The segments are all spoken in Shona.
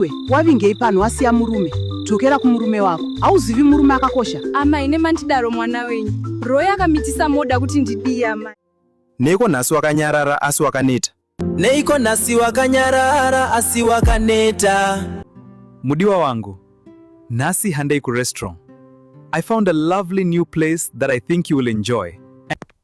iwe wavingei panhu wasiya murume dzokera kumurume wako hauzivi murume akakosha amai nemandidaro mwana wenyu roy akamitisa moda kuti ndidii amai neiko nhasi wakanyarara asi wakaneta neiko nhasi wakanyarara asi wakaneta mudiwa wangu nhasi handei kurestaurant i found a lovely new place that i think you will enjoy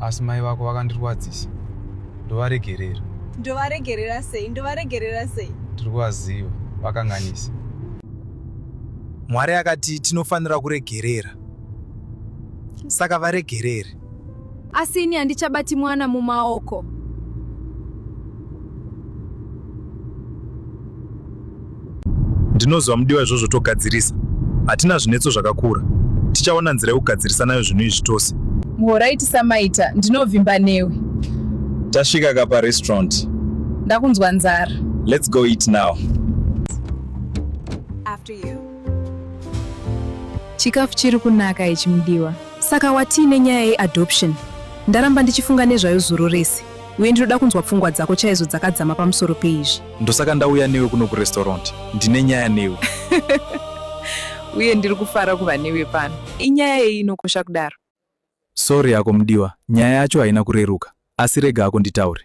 asi mai vako vakandirwadzisa ndovaregerera ndovaregerera sei ndovaregerera sei tiri kuvaziva vakanganisa mwari akati tinofanira kuregerera saka varegerere Asi ini handichabati mwana mumaoko. Ndinoziva mudiwa izvozvo togadzirisa. Hatina zvinetso zvakakura. Tichaona nzira yekugadzirisa nayo zvinhu izvi tose. Muhoraiti samaita, ndinovimba newe. Tasvika kapa restaurant. Ndakunzwa nzara. Let's go eat now. After you. Chikafu chiri kunaka ichi mudiwa. Saka watii nenyaya ye adoption? Ndaramba ndichifunga nezvayo zuro rese uye ndinoda kunzwa pfungwa dzako chaizo dzakadzama pamusoro peizvi. Ndosaka ndauya newe kuno kurestaurant, ndine nyaya newe. Uye ndiri kufara kuva newe pano. Inyaya yei inokosha kudaro? Sorry hako mudiwa, nyaya yacho haina kureruka. Asi rega hako nditaure.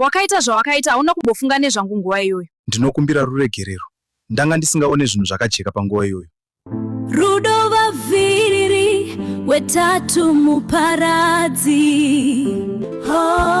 Wakaita zvawakaita hauna kumbofunga nezvangu nguva iyoyo. Ndinokumbira ruregerero. Ndanga ndisingaone zvinhu zvakajeka panguva iyoyo. Rudo vaviri wetatu muparadzi. Oh.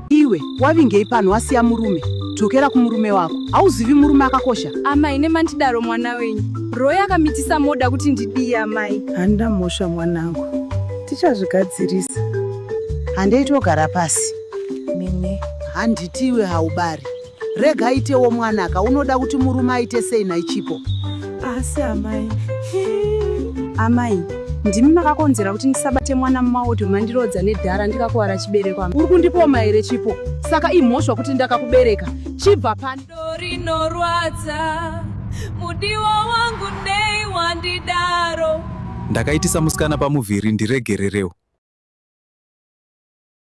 Iwe wavingei pano wasiya murume? Dzokera kumurume wako. Hauzivi murume akakosha. Amai nemandidaro mwana wenyu. Roy akamitisa moda kuti ndidii amai? Handa mhosva mwanangu. Tichazvigadzirisa. Handei togara pasi. Mimi. Handiti iwe haubari. Rega aitewo mwana ka unoda kuti murume aite sei nhai Chipo? Asi amai. Amai, ndimi makakonzera kuti ndisabate mwana mumaoto mandirodza nedhara ndikakuvara chibereko. Uri kundipoma here Chipo? Saka imhosva kuti ndakakubereka. Chibva pano. Rinorwadza mudiwa wangu nei wandidaro. Ndakaitisa musikana pamuviri ndiregererewo.